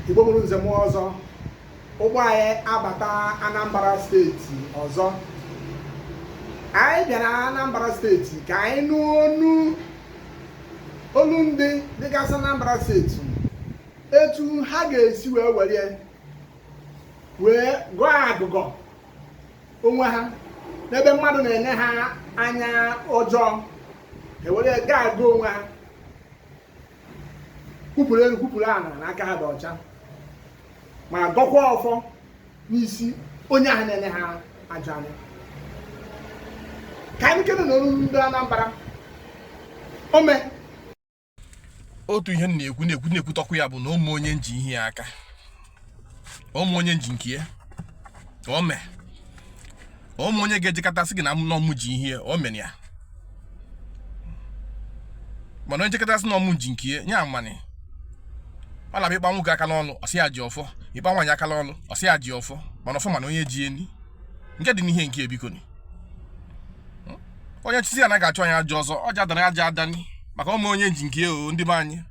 Igbo mụrụ nze mụọ ọzọ ụgbọ anyị abata Anambra steeti ọzọ anyị bịara Anambra steeti ka anyị nụ olu ndị dịgasị Anambra steeti etu ha ga-esi wee were wee gọọ agụgọ onwe ha n'ebe mmadụ na-ele ha anya ọjọọ were gọọ agụgọ onwe ha kwupụrụ elu kwupụrụ ala na aka ha dị ọcha ma gọkwa ọfọ n'isi onye ahụ na-ele ha ajọ anya ka anyị kene na olu ndị Anambra o nwe otu ihe m na-ekwu na-ekwu na-ekwutọkwu ya bụ na o nweghị onye m ji ihe ya aka o nweghị onye m ji nke ya o nweghị onye ga-ejekọta sị gị na ọ mụ ji ihe o mere ya mana onye jekọta sị na ọ mụ ji nke ya nye amani ọ na-abịa ịkpa nwoke aka n'ọnụ ọ sị ya ji ọfọ ịkpa nwaanyị aka n'ọnụ ọ sị ya ji ọfọ mana ọfọ ma onye ji enyi nke dị n'ihe nke ebiko ni onye chisi ya na ga-achụ anya ajọ ọzọ ọ jadara aja adani maka o nweghị onye m ji nke ya ndị be anyị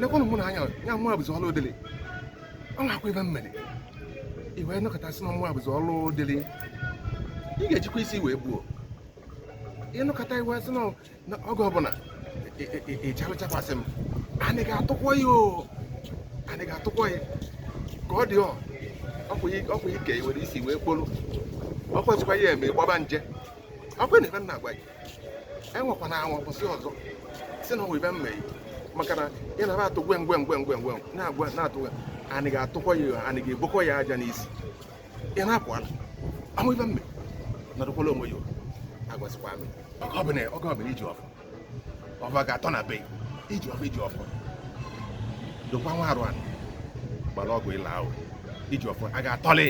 lekwanụ mụ na anya ya mụ abụzi ọlụ dịrị ọ na-akwa ife m mere i wee nọkọtasị na mụ abụzi ọlụ dịrị ị ga-ejikwa isi wee gbuo ị nọkọta i wee sị na oge ọbụla ịchalụchakwasị m anyị ga-atụkwa ya o anyị ga-atụkwa ya ka ọ dị ọ ọkwa ike i were isi wee kpolu ọkwa jikwa ya eme ịgbaba nje ọkwa na ife m na-agwa gị anwakwana anwa kwụsị ọzọ sị na o nwe ife m mere maka na ị na atụ gwe ngwe ngwe ngwe ngwe na-agwa na-atụ gwe anyị ga-atụkwa ya anyị ga-ebokwa ya aja n'isi ị na-apụ ala o nwe ife m mere nọdụkwala onwe ya agwasịkwa amị oge ọbụla iji ọfọ ọfọ ga-atọ na be iji ọfọ iji ọfọ dokwa nwa arụ anụ gbara ọgwụ ịla ahụ iji ọfọ a ga-atọlị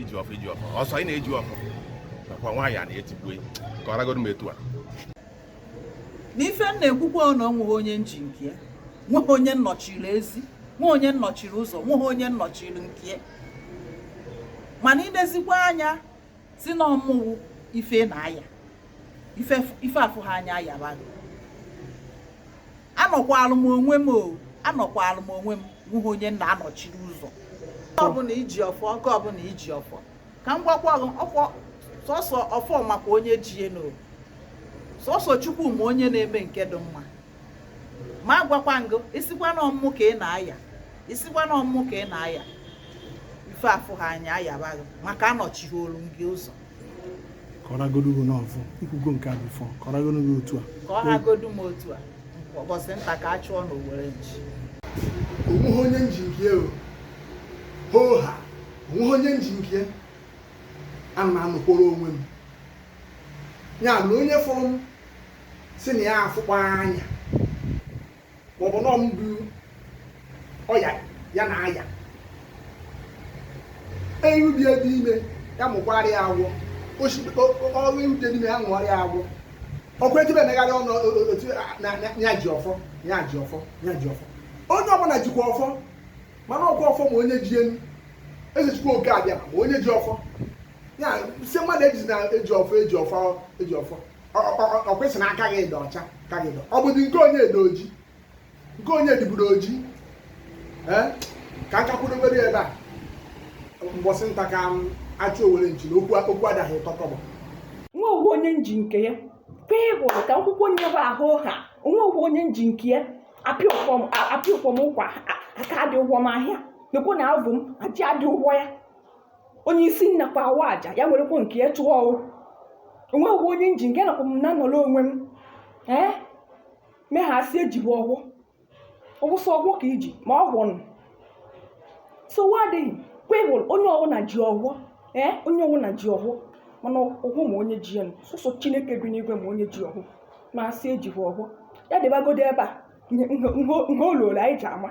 iji ọfọ iji ọfọ ọsọ ị na-eji ọfọ nakwa nwaanyị a na-etigbu ka ọ ragodu m etu a n'ife m na-ekwukwa ọ na ọ nweghị onye m ji nke ya nweghị onye m nọchiri ezi nweghị onye m nọchiri ụzọ nweghị onye m nọchiri nke ya mana i lezikwa anya sị na ọ mụ wụ ife na-aya ife afụ ha anya ayaba anọkwalụ m onwe m o anọkwalụ m onwe m nweghị onye m na-anọchiri ụzọ ọbụla iji ọfọ oge ọbụla iji ọfọ ka m gwakwa gị ọfọ sọsọ ọfọ makwa onye ji ya nụ sọsọ chukwu ma onye na-eme nke dị mma ma agwakwa ngụ isikwa na ọmụmụ ka ị na-aya isikwa na ọmụmụ ka ị na-aya ife afụ ha anya ayabaghị maka anọchighị olu gị ụzọ kọragodu gị n'ọfụ ikwugo nke a bifọ kọragodu gị otu a ka ọ hagodu m otu a ụbọchị nta ka a chụọ n'owere nchi onweghị onye nji nke ya o hoo ha onweghị onye nji nke ya ana m anọkwara onwe m ya na onye fụrụ m si na ya afụkwa anya maọbụ nọ ndụ ọya ya na aya erubie dị ime ya mụkwara ya agwọ ọrụ erute n'ime ya mụọrọ ya agwọ ọkwa etu na-emegharị ọnụ otu ya ji ọfọ ya ji ọfọ ya ji ọfọ onye ọbụla jikwa ọfọ mana ọkwa ọfọ ma onye ji enu eze chukwu oke abịama onye ji ọfọ ya si mmadụ eji na eji ọfọ eji ọfọ eji ọfọ ọkwesị na aka gị dị ọcha ka gị dị ọ bụdị nke onye dị oji nke onye dịburu oji ka aka kwuru obere ebe a mbọsị nta ka a chụọ n'owere nchi na okwu adaghị tọkọbọ onweghị onye nji nke ya kwe hụrụ ka akwụkwọ nye bụ ahụ ha onweghị onye nji nke ya apịa ụkwọ m ụkwa aka adị ụgwọ m ahịa mekwa na abụ m aji adị ụgwọ ya onye isi nnakwa awa aja ya werekwa nke ya chụọ ọwụ onweghị onye nji nke nakwa m na-anọrọ onwe m ee ma asị ejibu ogu ogu sọ ogu ka iji ma ọ gwụ nụ nsogbu adịghị kwewụl onye ọwụna ji ogu ee onye ọwụna ji ogu mana ogu ma onye ji ya nụ sọsọ chineke bi n'igwe ma onye ji ogu ma asị ejibu ogu ya dịbagodo ebe a nha oluola anyị ji ama